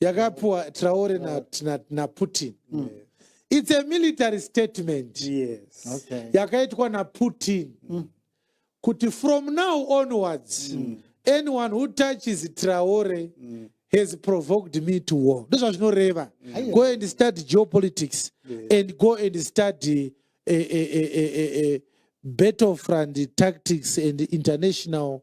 yakapiwa traore naputin na, na mm. its a military statement yes. okay. yakaitwa naputin mm. kuti from now onwards mm. anyone who touches traore mm has provoked me to war ndozvazvinoreva mm. go and study geopolitics yeah. and go and study uh, uh, uh, uh, uh, battlefront tactics and international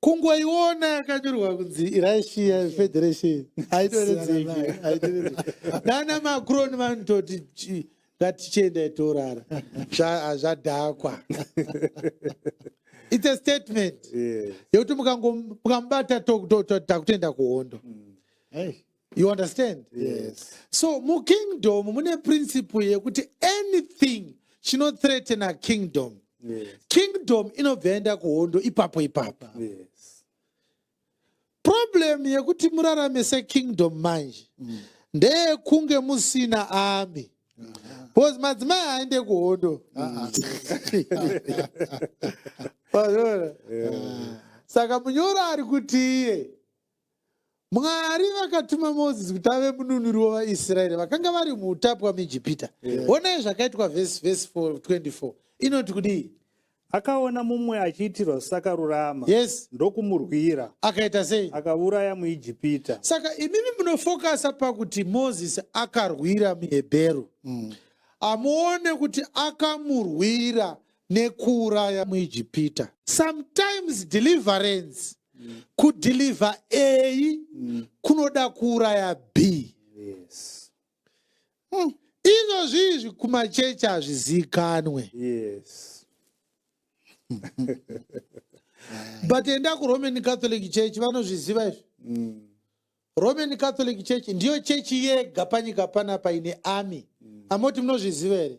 kungoiona yakanyorwa kunzi irussia federation haitoredzeki nana macron vanototi ngatichienda itorara zvadhakwa its a statement yekuti mukamubata takutoenda kuhondo mm. you understand yes. so mukingdom mune principle yekuti anything chinothreatena kingdom yes. kingdom inobva yaenda kuhondo ipapo ipapo yes. problem yekuti murarame sekingdom manje mm. ndeyekunge musina ami bcause madzimai aende kuhondo saka munyoro ari kuti iye mwari vakatuma moses kuti ave mununuri wevaisraeri vakanga vari muutapwa muijipita honai zvakaitwa vhesi vhesi 24 inoti kudii akaona mumwe achiitirwa zvisakarurama yes ndokumurwira akaita sei akauraya muijipita saka imimi munofokasa pakuti moses akarwira muhebheru mm. amuone kuti akamurwira nekuuraya muijipita sometimes deliverance mm. kudeliver a mm. kunoda kuuraya b yes. mm. izvo zviizvi kumachechi hazviziikanwe yes. but enda kuroman catholic church vanozviziva izvi mm. roman catholic church ndiyo chechi yega panyika panapa ine army mm. amoti munozviziva here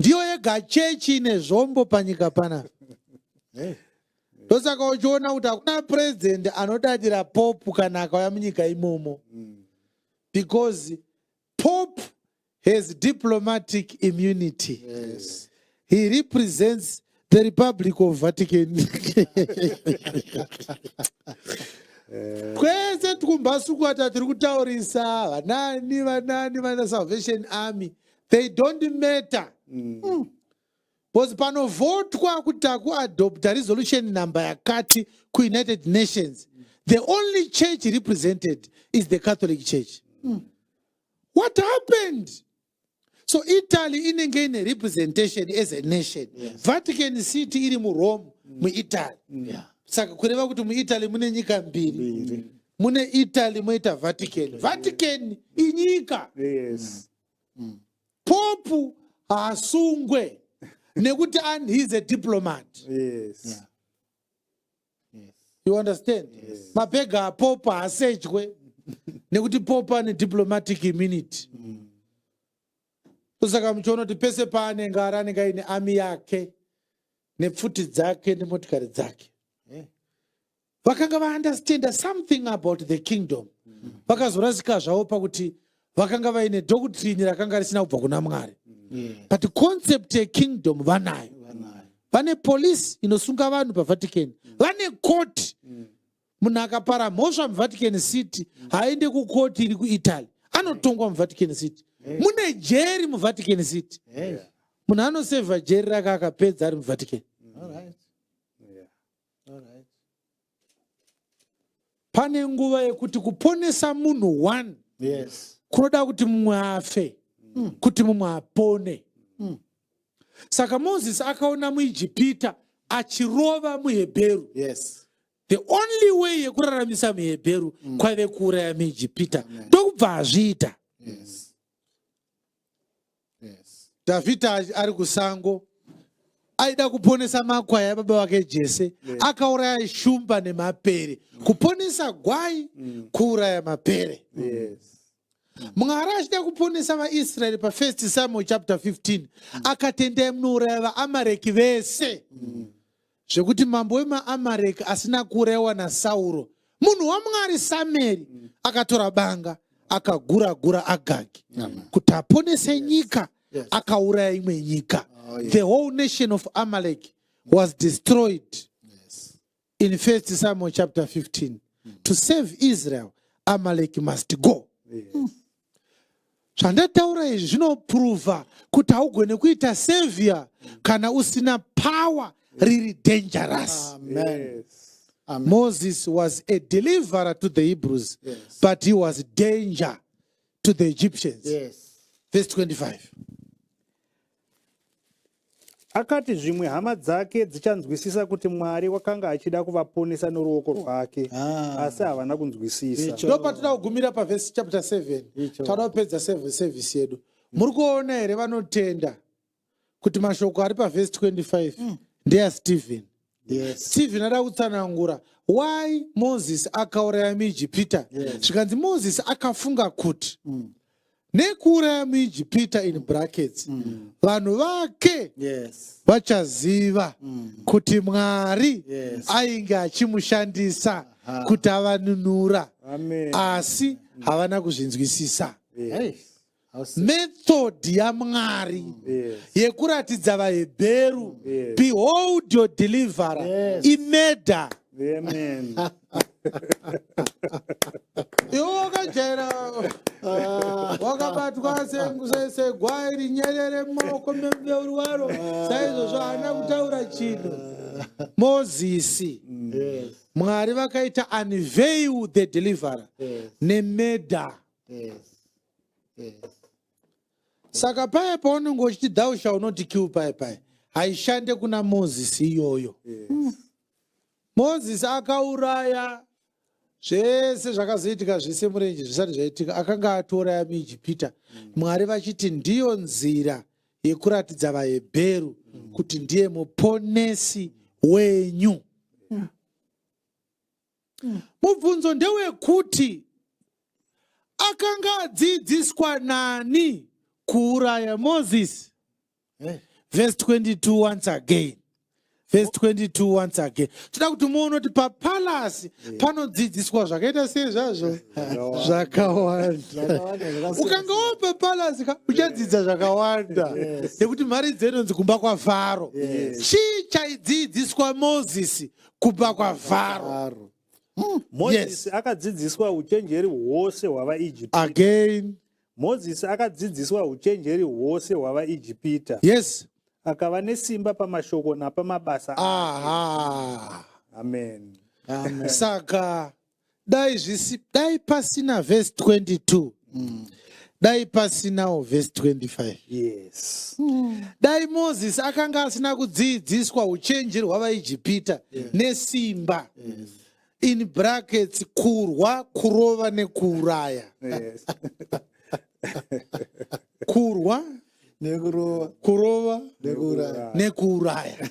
ndiyo yega chechi ine zvombo panyika pana ndosaka uchiona kuti hakuna president anodadira popu kana akauya munyika imomo mm. because pope has diplomatic immunity yes. he represents the republic of vatican kwese tikumbasukwata tiri kutaurisa vanani vanani vana salvation army they don't matter mm. Mm. bcause panovhotwa kuti takuadopta resolution number yakati kuunited nations mm. the only church represented is the catholic church mm. what happened so italy inenge ine representation as a nation yes. vatican city iri murome mm. muitaly mm. yeah. saka kureva kuti muitaly mune nyika mbiri mm. mune italy moita vatican vatican inyika yes. mm. mm. popu haasungwe nekuti and he's a diplomat yes. yeah. yes. you understand yes. mabhega apopa haasejwe nekuti popa ane diplomatic immunity mm. saka muchiona kuti pese paanenge ari anenge aine ami yake nepfuti dzake nemotikari dzake vakanga vaunderstanda something about the kingdom vakazorasika zvavo pakuti vakanga vaine doctrine rakanga risina kubva kuna mwari but concept yekingdom vanayo vane police inosunga vanhu pavatican vane court munhu akapara mhosva muvatican city haaende kukoti iri kuitaly anotongwa muvatican city mune jeri muvatican city munhu anosevha jeri rake akapedza ari muvatican pane nguva yekuti kuponesa munhu one yes. kunoda kuti mumwe afe mm. kuti mumwe apone mm. saka moses akaona muijipita achirova muhebheru yes. the only way yekuraramisa muhebheru mm. kwave kuuraya muijipita ndokubva azviita yes. dhavhidha ari kusango aida kuponesa makwai ababa vake jese akauraya shumba nemapere kuponesa gwai mm. kuuraya mapere mwari achida kuponesa vaisraeri pafirst samuel chapter 15 mm. akatendai munouraya vaamareki vese mm. zvekuti mambo wemaamareki asina kurewa nasauro munhu wamwari sameri mm. akatora banga akagura gura agagi kuti aponese nyika akauraya imwe nyika oh, the whole nation of amalek was destroyed in 1 samuel chapter 15 mm. to save israel amalek must go zvandataura izvi zvinopruvha kuti haugone kuita savior kana usina power riri dangerous moses was a deliverer to the hebrews yes. but he was danger to the egyptians yes. verse 25 Akati zvimwe hama dzake dzichanzwisisa kuti Mwari wakanga achida kuvaponesa noruoko rwake, ah. asi havana kunzwisisa. Ndipo patinoda kugumira pavhesi chapter 7 tinoda kupedza sevhisi yedu. Muri kuona here vanotenda kuti mashoko ari pavhesi 25 mm. ndeyaStephen? yes. stephen ada kutsanangura why moses akauraya muijipita zvikanzi yes. moses akafunga kuti mm. nekuuraya muijipita in brackets mm. vanhu mm. vake vachaziva yes. mm. kuti mwari yes. ainge achimushandisa kuti avanunura asi havana kuzvinzwisisa yes. method yamwari mm. yes. yekuratidza vahebheru mm. yes. behold your deliverer yes. imeda iwe wakajaira ah. wakabatwa segwai rinyerere mumaoko memubeuri waro ah. saizvozvo haana kutaura chinhu ah. mozisi mm. mwari vakaita unveil the deliverer nemeda saka paye paunenge uchiti thou shall not kill paye paye haishande kuna moses iyoyo hmm. moses akauraya zvese zvakazoitika zvese murenje zvisati zvaitika akanga atouraya muijipita hmm. mwari vachiti ndiyo nzira yekuratidza vahebheru hmm. kuti ndiye muponesi wenyu mm. mubvunzo ndewekuti akanga adzidziswa nani kuuraya moses hey. Eh. verse 22 once again verse 22 once again toda kuti muone kuti papalasi eh. panodzidziswa zvakaita sei zvazvo zvakawanda ukanga wo papalasi ka uchadzidza zvakawanda nekuti mari dzenonzi kumba kwafaro chii chaidzidziswa mozisi kubva kwavharo hmm, mozisi akadzidziswa uchenjeri hwose hwavaijipita again mozisi akadzidziswa uchenjeri hwose hwavaijipita yes akava nesimba pamashoko napamabasa aha amen, amen. saka dai zvisi dai pasina vhesi 22 mm. dai pasinawo vhesi 25 yes. mm. dai mozisi akanga asina kudziidziswa uchenje rwavaijipita yes. nesimba yes. in brackets kurwa kurova nekuuraya yes. kurwa nekurova nekuuraya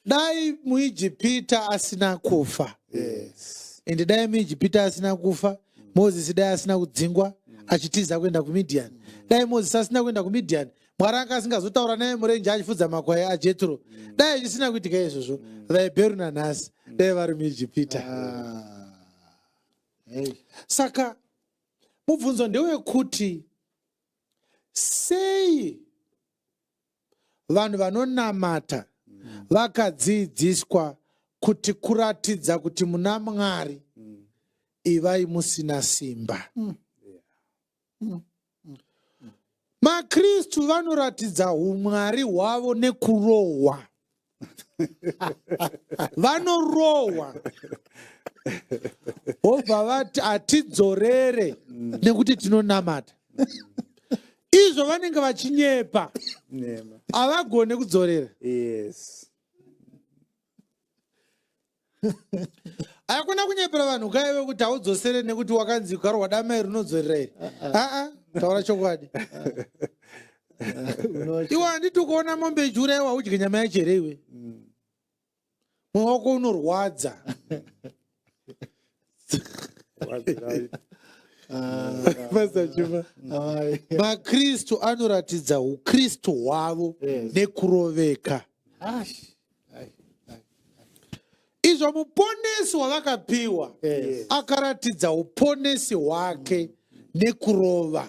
dai muijipita asina kufa yes. and dai muijipita asina kufa mozisi dai asina kudzingwa achitiza kuenda kumidhiani dai mozisi asina kuenda kumidhiani mwari anga asingazotaura naye murenje achifudza makwai ajetro dai zvisina kuitika izvozvo vahebheru nanhasi dai vari muijipita ah. saka mubvunzo ndewekuti sei vanhu vanonamata mm. vakadziidziswa mm kuti kuratidza kuti muna mwari ivai musina simba mm. Mm. Mm. makristu vanoratidza umwari hwavo nekurohwa vanorohwa vobva vati hatidzorere mm. nekuti tinonamata izvo vanenge vachinyepa havagone kudzorera hakuna kunyepera vanhu kaive kuti haudzosere nekuti wakanzi gwaro wadamai rinodzorera iri aa ah, ah. ah, taura chokwadi iwe handiti ukuona mombe ichiura iwa udye nyama yacho here iwe mm. mwoyo wako unorwadza makristu ah. anoratidza ukristu hwavo nekuroveka izvo muponesi wavakapiwa akaratidza uponesi hwake nekurova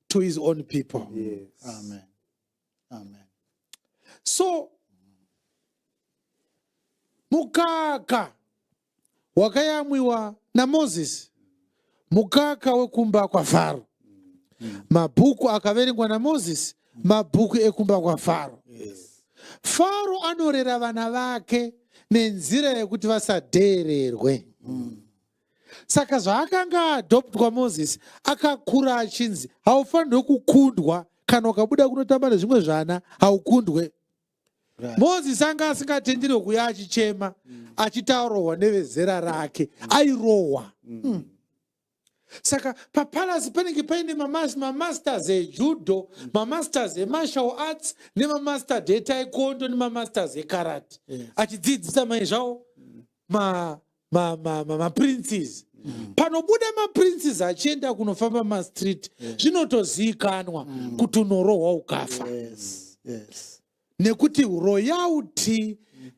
to his own people yes. amen amen so mukaka wakayamwiwa namozisi mukaka wekumba kwafaro mabhuku akaverengwa namozisi mabhuku ekumba kwafaro yes. faro anorera vana vake nenzira yekuti vasadeererwe mm. saka zvaakanga adoptwa moses akakura achinzi haufanirwe kukundwa kana ukabuda kunotamba nezvimwe zvana haukundwe right. moses anga asingatenderwe kuya achichema mm. achitaurwa nevezera rake mm. airohwa mm. mm. saka papalasi panenge paine mamasters ejudo mm. mamasters emartial arts nemamasters etaikondo nemamasters ekarati yeah. achidzidzisa mai zvavo ma ma ma ma, ma princes mm. panobuda ma princes achienda kunofamba ma street yeah. zvinotoziikanwa mm. kuti unorohwa ukafa yes. Yes. nekuti royalty mm.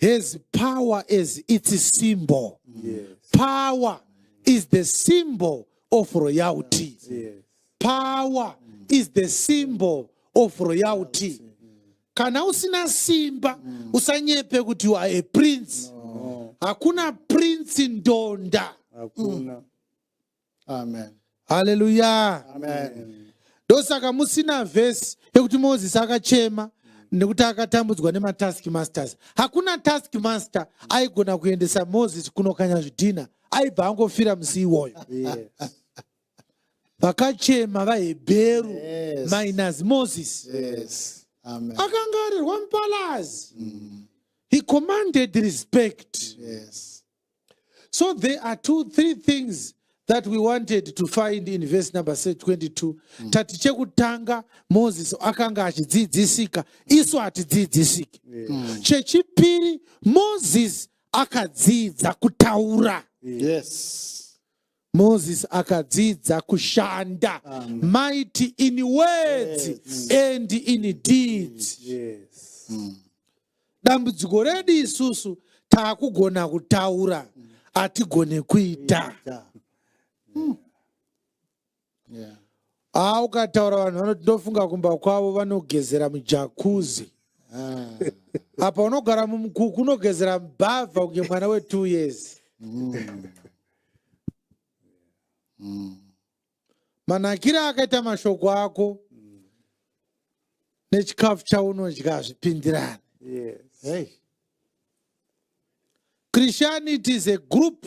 has power as its symbol mm. yes. power mm. is the symbol of royalty yes. power mm. is the symbol of royalty, royalty. kana usina simba mm. usanyepe kuti you are a prince no. hakuna prince ndonda hakuna mm. amen haleluya amen ndosaka musina vhesi yekuti mozisi akachema nekuti akatambudzwa nematask masters hakuna task master aigona kuendesa moses kunokanya zvidhina aibva angofira musi iwoyo yes. vakachema vahebheru yes. minus moses yes. akangarirwa mupalazi mm. he commanded respect yes. so there are two three things that we wanted to find in verse number 22 mm. tati chekutanga moses akanga achidzidzisika isu hatidzidzisiki yes. mm. chechipiri moses akadzidza kutaura yes. Moses akadzidza kushanda Amen. mighty in words yes. and in deeds. Yes. Mm. Dambudziko redu isusu takugona kutaura hatigone kuita. Mm. yeah. ah, ukataura vanhu vanoti ndofunga kumba kwavo vanogezera mujakuzi ah. apa unogara mumukuku unogezera mbavha kunge mwana wetwo years mm. Mm. manakire akaita mashoko ako mm. nechikafu chaunodya hazvipindirani yes. hey. christianity is a group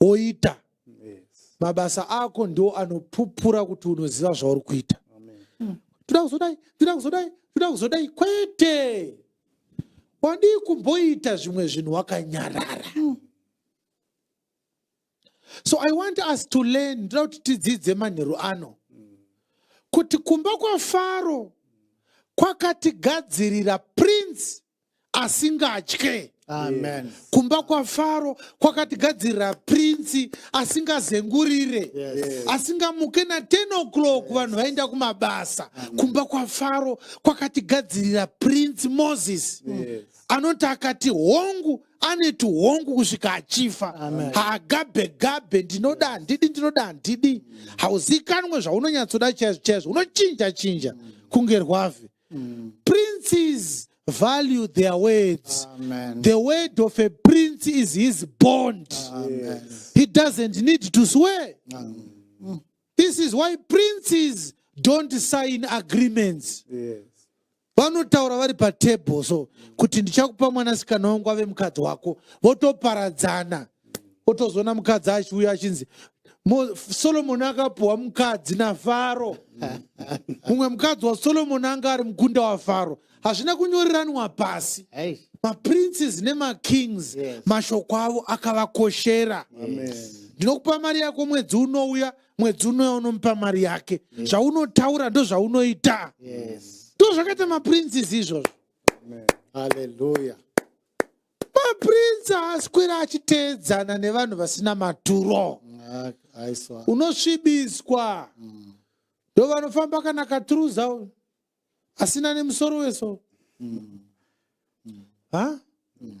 woita mabasa ako ndiwo anopupura kuti unoziva zvauri kuita hmm. toda kuzodai toda kuzodai toda kuzodai kwete wadii kumboita zvimwe zvinhu wakanyarara hmm. so i want us to learn ndoda kuti tidzidze manheru ano kuti kumba kwafaro kwakatigadzirira prince asingatye Amen. kumba kwafaro kwakatigadzirira prince asingazengurire Yes. asingamuke na 10 o'clock vanhu vaenda kumabasa kumba kwafaro kwakatigadzirira prince moses anoti akati hongu ane tuhongu kusvika achifa haagabe gabe ndinoda handidi ndinoda handidi hauzikanwe zvaunonyatsoda chaizvo chaizvo unochinja chinja kunge rwavhi Mm. Princes value their words. Amen. The word of a prince is his bond. Amen. He doesn't need to swear. Amen. Mm. This is why princes don't sign agreements. Yes. vanotaura vari patable so kuti ndichakupa mwanasikana wangu ave mukadzi wako votoparadzana otozoona mukadzi achiuya achinzi solomoni akapuhwa mukadzi nafaro mumwe mukadzi wasolomoni anga ari mukunda wafaro hazvina kunyoreranwa pasi maprinces nemakings yes. mashoko avo akavakoshera ndinokupa yes. mari yako mwedzi unouya mwedzi unouya unomupa mari yake yes. zvaunotaura ndozvaunoita yes. ndozvakaita maprinces izvozvo haleluya maprince aswera achiteedzana nevanhu vasina maturo unosvibiswa mm. ndo vanofamba kana katruza uyu asina nemusoro weso mm. mm.